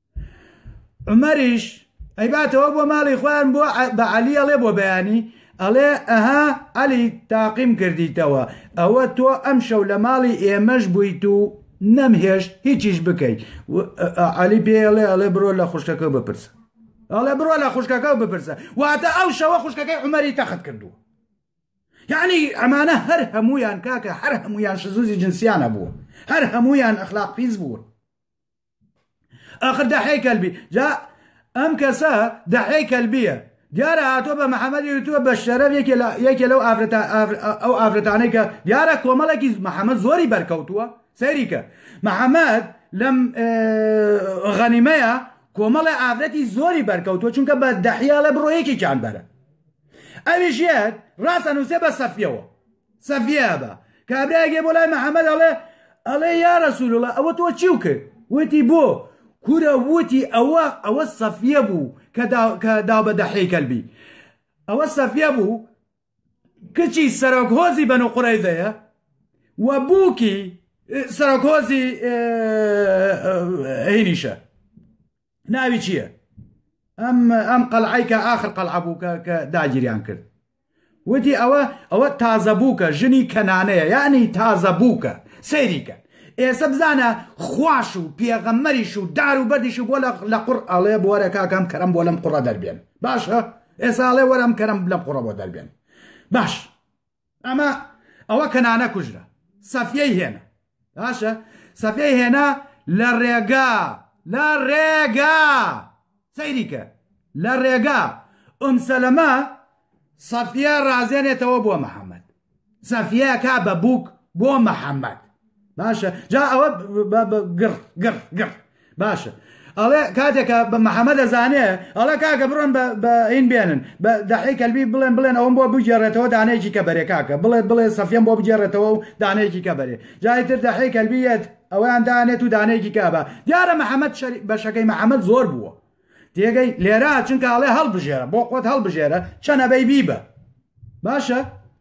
عمەریش ئەیباتەوە بۆ ماڵی خۆیان بۆ بە علی ئەڵێ بۆ بەیانی ئەڵێ ئەها علی تاقیم کردیتەوە ئەوە تۆ ئەم شەو لە ماڵی ئێمەش بوویت و نەمهێشت هیچیش بکەیت علی پێ ئەڵێ ئەڵێ بڕۆ لە خوشکەکە بپرسە ئەڵێ بڕۆ لە خوشکەکە و بپرسە واتە ئەو شەوە خوشکەکەی عمەری تەخت کردووە یعنی ئەمانە هەر هەمویان کاکە هەر هەمویان شزوزی جنسیانە بوو هەر هەمویان ئەخلاق پیس بوون ئاخر دەحەی کەلبی جا ئەم کەسە دەحەی کەلبیە دیارە هاتۆ بە محەممەدی وتووە بە شەرەف یەکێ لەو ئەو ئافرەتانەی کە دیارە کۆمەڵێکی محەممەد زۆری بەرکەوتووە سەیریکە محەممەد لەم غەنیمەیە کۆمەڵە ئافرەتی زۆری بەرکەوتووە چونکە بە دەحیا لە بڕۆیەکێکیان بەرە ئەویش یەت ڕاستە نووسێ بە سەفیەوە سەفیە بە کابرایەک یە بۆ لای محەمەد ئەڵێ ئەڵێ یا رسول الله ئەوە تۆ چیو کرد وتی بۆ کورە وتی ئەوە ئەوە سەفیە بوو کە داو بە دەحی کەلبی ئەوە سەفیە بوو کچی سەرۆک هۆزی بەن و قڕەیزەیە و بووکی سەرۆک هۆزی هینیشە ناوی چییە؟ ئەم ئەم قەلعیکە ئاخر قەلع بوو کە کە داگیریان کرد وتی ئەوە ئەوە تازە بووکە ژنی کەنانەیە یعنی تازە بووکە سەیریکە ئێسە بزانە خواش و پێغەمەریش و دار و بەدیش بۆ لە قڕ ئەڵێ بۆرە کاکەم کەرم بۆ لەم قڕە دەربێن باشە ئێساڵێ وەرم کەرم لەم قڕە بۆ دەربێن باش ئەمە ئەوە کەنانە کوژرا سەفیەی هێنا باشە سەفی هێنا لە ڕێگا لە ڕێگا سەیریکە لە ڕێگا ئەم سەلەمە سەفە ڕازێنێتەوە بۆ محەممەد سەفە کا بە بووک بۆ محەممەد باشە جا ئەوە گڕ گڕ گڕ باشە ئەڵێ کاتێکە بە محەممە دەزانێ ئەڵە کاکە بڕۆن بە ئین بێنن بە دەحی کەلبی بڵێن بڵێن ئەوم بۆ بگێڕێتەوە دانەیەکی کە بەرێ کاکە بڵێ بڵێ سەفیەم بۆ بگێڕێتەوە و دانەیەکی کە بەرێ جایتر دەحی کەلبیەت ئەویان دانێت و دانەیەکی کابە دیارە محەممەد بەشەکەی محەممەد زۆر بووە تێگەی لێرا چونکە ئەڵێ هەڵبژێرە بۆ خۆت هەڵبژێرە چەنەبەی بیبە باشە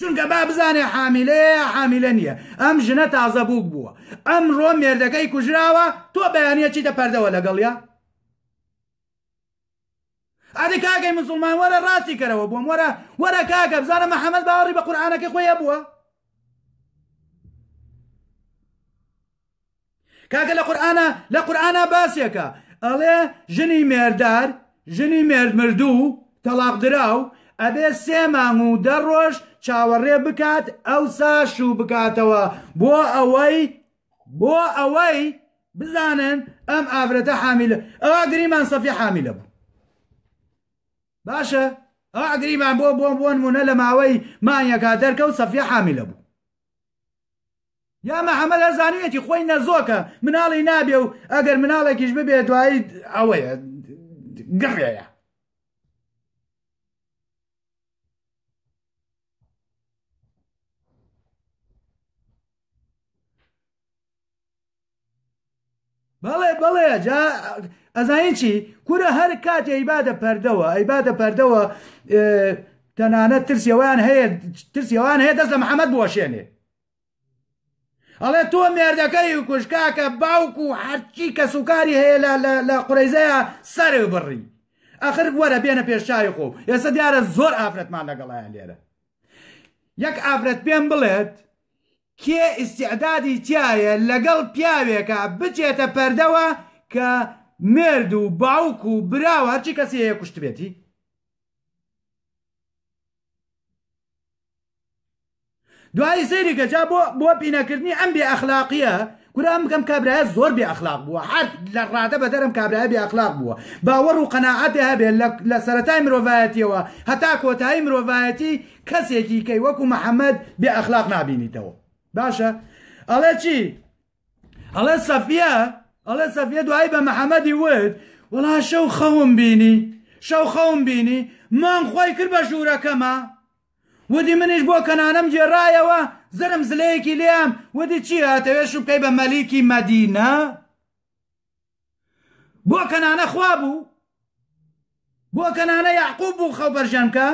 چونکە با بزانێ حامیلەیە یا حامیلە نییە ئەم ژنە تازە بووک بووە ئەمڕۆ مێردەکەی کوژراوە تۆ بەیانە چیتە پەردەوە لەگەڵیا ئەدی کاگەی مسلمان وەرە ڕاستی کەرەوە بووم وەرە وەرە کاگە بزانە محەممەد باوەڕی بە قورآانەکە خۆیە بووە کاکە لە قورئانا لە قورئانا باسێکە ئەڵێ ژنی مێردار ژنی مێرد مردوو تەڵاق دراو ئەبێ سێ مانگ و دە ڕۆژ چاوەڕێ بکات ئەو سا شوو بکاتەوە بۆ ئەوەی بۆ ئەوەی بزانن ئەم ئافرەتە حامیلە ئەوا گریمان سەفی حامیلە بوو باشە ئەو ئەگریمان بۆ بۆ بۆن مونە لە ماوەی مانیەکە دەرکە و سەفی حامیلە بوو یا مەحەمەد ئەزانیوێتی خۆی نەزۆکە مناڵی نابێ و ئەگەر مناڵێکیش ببێ دوایی ئەوەیە گڕێە بەڵێ بەڵێ جا ئەزانین چی کورە هەر کاتێ ئەیبادە پەردەوە ئەیبادە پەردەوە تەنانە ترسیەوەیان هەیە ترسیەوەیان هەیە دەست لە محەممەد بۆشێنێ ئەڵێ تۆ مێردەکەی و کوشکاکە باوک و هەرچی کەسوکاری هەیە لە قڕیزەیە سەر بڕی ئەخر وەرە بێنە پێشچوی خۆ ئێستا دیارە زۆر ئافرەتمان لەگەڵیان لێرە یەک ئافرەت پێم بڵێت کێ ئیستیعدادی تیایە لەگەڵ پیاوێکا بچێتە پەردەوە کە مێرد و باوک و برا و هەرچی کەسی هەیە کوشتبێتی؟ دوایی سەیری کە جا بۆ بۆ پینەکردنی ئەم بێ ئەخلاقیە کورە ئەم بکەم کابرایە زۆر بێ ئەخلاق بووە هەر لە ڕادە بە دەرم کابرای بێ ئەخلاق بووە باوەڕ و قەنەعاتێ هەبێ لە سەتای مرۆڤایەتیەوە هەتا کۆتایی مرۆڤایەتی کەسێکی کەی وەکو محەممەد بێ ئەخلاق نابینیتەوە باشە ئەڵێ چی ئەڵێ سەفە ئەڵێ سەفە دوایی بە محەممەدی وت وڵا شەو خەوم بینی شەو خەوم بینی مام خۆی کرد بە ژوورەکەمە ودی منیش بۆ کەنانم گێڕایەوە زرم زلەیەکی لێم ودی چی هاتەوێ شوبکەی بە مەلیکی مەدینە بۆ کەنانە خوا بوو بۆ کەنانە یعقوب بوو خەڵ بەرژەنکە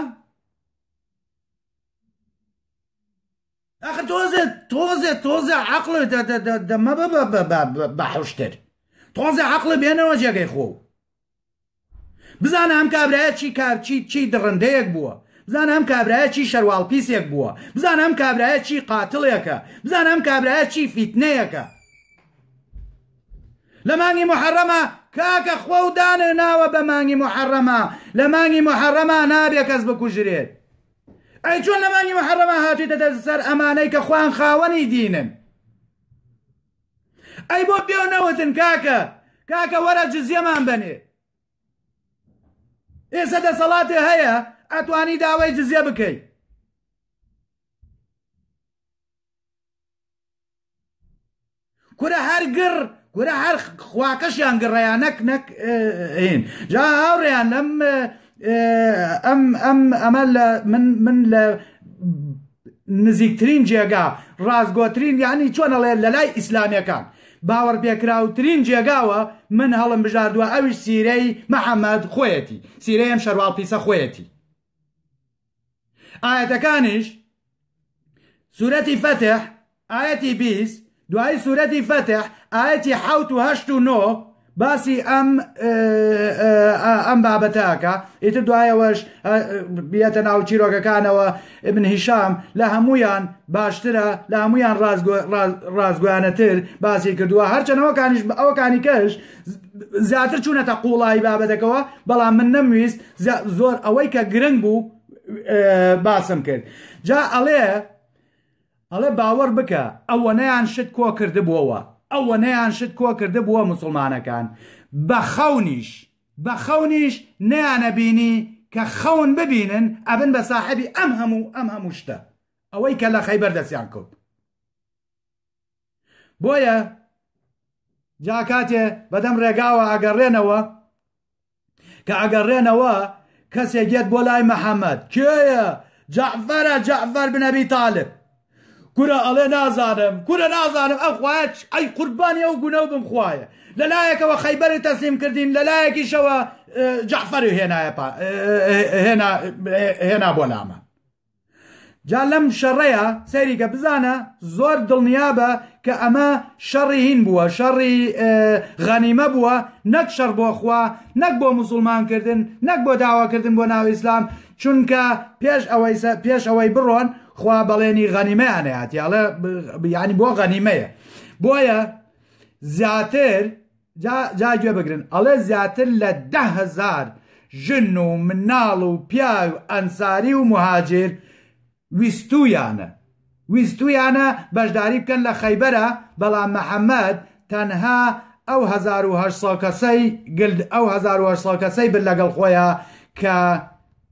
ئەخ تۆزێ تۆزێ تۆزە عقلە دەمە بە بە بە بە بە حشتر تۆزە عقلە بێنەوە جێگەی خۆ بزانە ئەم کابرایە چی کار چی چی دڕندەیەک بووە بزانە ئەم کابرایە چی شەرواڵ پیسێک بووە بزانە ئەم کابرایە چی قاتڵێکە بزانە ئەم کابرایە چی فیتنەیەکە لە مانگی محەڕەمە کاکە خۆ و دانێ ناوە بە مانگی محەڕەمە لە مانگی محەڕەمە نابێ کەس بکوژرێت ئەی چۆن لە مانگی محەڕەمە هاتوویتە دەست سەر ئەمانەی کە خوان خاوەنی دینن ئەی بۆ پێو نەوتن کاکە کاکە وەرە جزیەمان بەنێ ئێستا دەسەڵاتێ هەیە ئەتوانی داوای جزیە بکەی کورە هەر گڕ کورە هەر خواکەشیان گڕیان نەک نەک هین جا هاوڕێیان لەم ئەم ئەم ئەمە لە من من لە نزیکترین جێگا ڕاستگۆترین یعنی چۆن ئەڵێ لە لای ئیسلامەکان باوەڕ پێکراوترین جێگاوە من هەڵم بژاردووە ئەویش سیرەی محەممەد خۆیەتی سیرەیەم شەرواڵ پیسە خۆیەتی ئایەتەکانیش سورەتی فەتح ئاەتی بیست دوایی سورەتی فەتح ئاەتی حوت و هەشت و نۆ باسی ئەم ئەم بابەتەکە ئیتر دوایەوەش بێتە ناو چیرۆکەکانەوە ابن هیشام لە هەمویان باشترە لە هەمویان ڕازگویانەتر باسی کردووە هەرچەنەوەکانیش ئەوکانی کەش زیاتر چوونەتە قوڵایی بابەتەکەەوە بەڵام من نەمویست جا زۆر ئەوەی کە گرنگ بوو باسم کرد جا ئەڵێ ئەڵێ باوەڕ بکە ئەوەنەیان شت کۆ کردبووەوە ئەوەنەیان شت کۆ کردبووە مسلمانەکان بە خەونیش بە خەونیش نیانە بینی کە خەون ببینن ئەبن بە ساحبی ئەم هەموو ئەم هەموو شتە ئەوەی کە لە خەیبەر دەستیان کەوت بۆیە جا کاتێ بەدەم ڕێگاوە ئەگەڕێنەوە کە ئەگەڕێنەوە کەسێک یەت بۆ لای محەممەد کێە جەعفەرە جەعفەر بنەبی تالب کورە ئەڵێ نازانم کورە نازانم ئەو خوایە ئەی قوربانی ئەو گونە و بم خوایە لەلایەکەوە خەیبەری تەسلیم کردین لەلایەکیشەوە جەعفەری هێنایە هێنا بۆ لامان جا لەم شەڕەیا سەیری کە بزانە زۆر دڵنیابە کە ئەمە شەڕی هین بووە شەڕی غەنیمە بووە نەک شەڕ بۆ خوا نەک بۆ مسلمانکردن نەک بۆ داواکردن بۆ ناو ئیسلام چونکە پێش ئەوەی پێش ئەوەی بڕۆن خوا بەڵێنی غەنیمەیان هاتیاڵە ینی بۆ غەنیمەیە بۆیە زیاتر جا گوێ بگرن ئەڵێ زیاتر لە دە هەزار ژن و مناڵ و پیاوی ئەنساری و موهاجیر ویستوویانە ویستوویانە بەشداری بکەن لە خەیبەرا بەڵام محەمەد تەنها ئەو هەزار و هەشت سەد کەسەی گلد ئەو هەزار و هەشت سەد کەسەی برد لەگەڵ خۆیا کە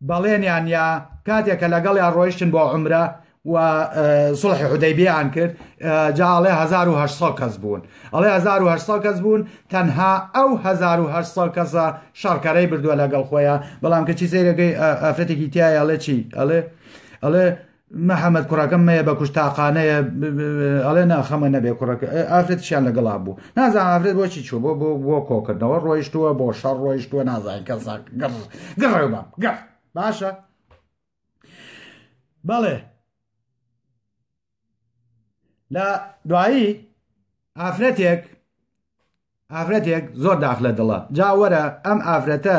بەڵێنیان یا کاتێک کە لەگەڵیان ڕۆیشتن بۆ عمرە و سڵحی حودەیبیان کرد جا ئەڵێ 1970 کەس بوون ئەڵێ 1970 کەس بوون تەنها ئەو 1970 کەسە شەڕکەرەی بردووە لەگەڵ خۆیان بەڵام کەچی سەیرەکەی ئافرەتێکی تایە ئەڵێ چی ئەڵێ ئەڵێ محمد کوڕەکەم مەیە بە کوشت تاقانەیە ئەڵێ نا خەمە نەبێ کوڕەکە ئافرەتشیان لەگەڵا بوو نازان ئافرەت بۆچی چوو بۆ بۆ بۆ کۆکردنەوە ڕۆیشتووە بۆ شەڕ ڕۆیشتووە نازان کەسان گەڕ گەڕێ بام گەڕ باشە بەڵێ لە دوایی ئافرەتێک ئافرەتێک زۆر داخ لە دڵە جا وەرە ئەم ئافرەتە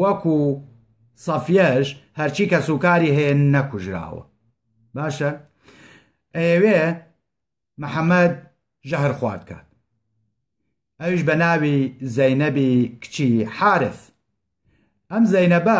وەکو سەفیەش هەرچی کە سوکاری هەیە نەکوژراوە باشە ئەیەوێ محەممەد ژەهر خوارد کات ئەوش بە ناوی زەینەبی کچی حارث ئەم زەینەبە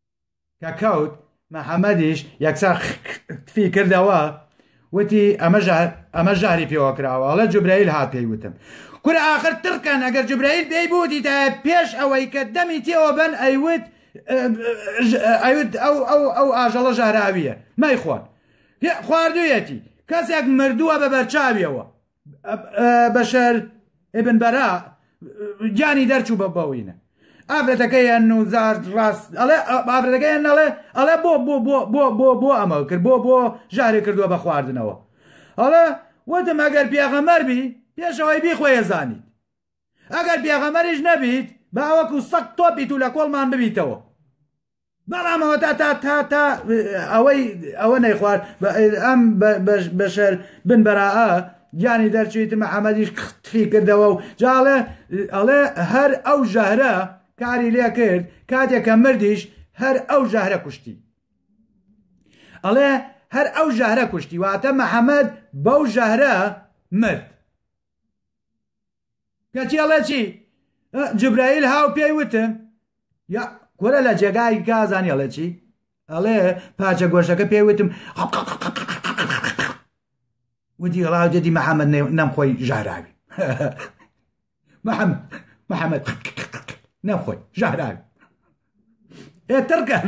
کە کەوت محەممەدیش یەکسەر تفی کردەوە وتی ئەمە ئەمە ژاری پێوە کراوەڵە جوبرەیل هات پێی وتم کور ئاخر تڕکەن ئەگەر جوبرەیل پێی بودیدا پێش ئەوەی کە دەمی تێوە بەن ئەیوت ئەوت ئەو ئەو ئەو ئاژەڵە ژاراویە مەیخۆن خواردویەتی کەسێک مردووە بە بەرچاویەوە بەشەر ئبن بەرا گیانی دەرچوو بە بەوینە ئافرەتەکەیان نوزار ڕاست ئەڵێ ئافرەتەکەیان نەڵێ ئەڵێ بۆ بۆ بۆ بۆ بۆ بۆ ئەمە کرد بۆ بۆ ژارێ کردووە بە خواردنەوە ئەڵە وتم ئەگەر پیاغەمەر بی پێشەوەی بی خۆیە زانیت ئەگەر پیاغەمەریش نەبیت باوەکو سەق تۆپیت و لە کۆڵمان ببیتەوە بەڵام ئەوە تا تا تا تا ئەوەی ئەوە نەیخوارد بە ئەم بەشەر بن بەراە گیانی دەرچویت محەممەدیش تفی کردەوە و جاڵێ ئەڵێ هەر ئەو ژەهرە کاری لێ کرد کاتێکە مردیش هەر ئەو ژەهرە کوشتی ئەڵێ هەر ئەو ژەهرە کوشتی واتە محەممەد بەو ژەهرە مرد کەچی ئەڵێ چی جبرائیل هاو پێی وتن یا کورە لە جێگای گازانی ئەڵێ چی ئەڵێ پاچە گۆشەکە پێی وتم ودی ڕاو دەدی محەممەد نەم خۆی ژاراوی محەممەد محەممەد نەخۆی ژاراوی ئێ تڕکەن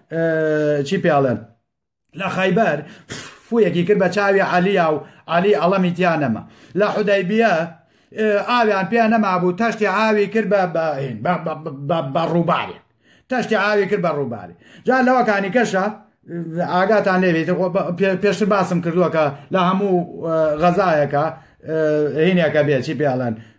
چی پیاڵێن لە خایبەر فویەکی کرد بە چاوی عەلیا و عەلی ئەڵەمی تیا نەما لە حدای بیە ئاویان پێ نەمابوو تەشتی ئاوی کرد بە ڕووبارێ تەشتی ئاوی کرد بە ڕووبارێ جا لەوەکانی کەشە ئاگاتان لێبێت پێشتر باسم کردووە کە لە هەموو غەزایەکە هینەکە بێت چی پێڵەن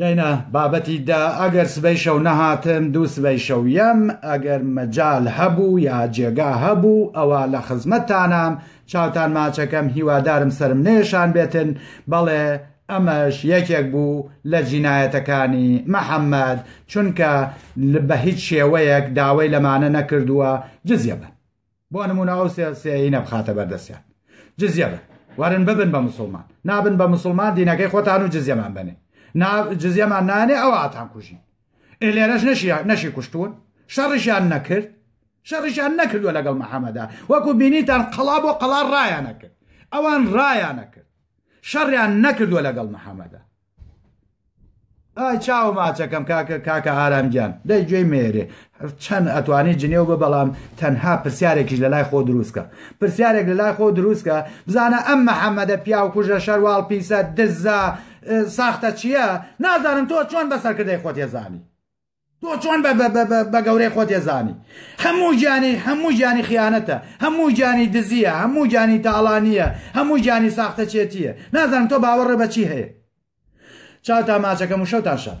یعنە بابەتی دا ئەگەر سبەی شەو نەهاتم دوو سبەی شەو یەم ئەگەر مەجال هەبوو یا جێگا هەبوو ئەوە لە خزمەتتانام چاوتان ماچەکەم هیوادارم سرم نێشان بێتن بەڵێ ئەمەش یەکێک بوو لە جینایەتەکانی محەممەد چونکە بە هیچ شێوەیەک داوای لەمانە نەکردووە جزیە بن بۆ نمونە ئەو سێینە بخاتە بەردەستیان جزیە بن وەرن ببن بە مسلمان نابن بە مسلمان دینەکەی خۆتان و جزیەمان بنێ جزیەمان نانێ ئەو ئاتان کوژین ئێ لێرەش نەشی نەشی کوشتون شەڕیشیان نەکرد شەڕیشیان نەکردووە لەگەڵ محەممەدا وەکو بینیتان قەڵا بۆ قەڵا ڕایانە کرد ئەوان ڕایانە کرد شەڕیان نەکردووە لەگەڵ محەممەدا ئای چاو ماچەکەم کاکە کاکە ئارام گیان دەی گوێی مێرێ چەند ئەتوانی جنێو بە بەڵام تەنها پرسیارێکیش لە لای خۆ دروستکە پرسیارێک لە لای خۆ دروستکە بزانە ئەم محەممەدە پیاو کوژە شەرواڵ پیسە دزە ساختە چییە نازانم تۆ چۆن بە سەرکردەی خۆت ێزانی تۆ چۆن بە بە بە بە بە گەورەی خۆ تێزانی هەموو گیانی هەموو گیانی خیانەتە هەموو گیانی دزیە هەموو گیانی تاڵانیە هەموو گیانی ساختەچێتیە نازانم تۆ باوەڕێ بەچی هەیە چاوتان ماچەکەم و شەوتان شاد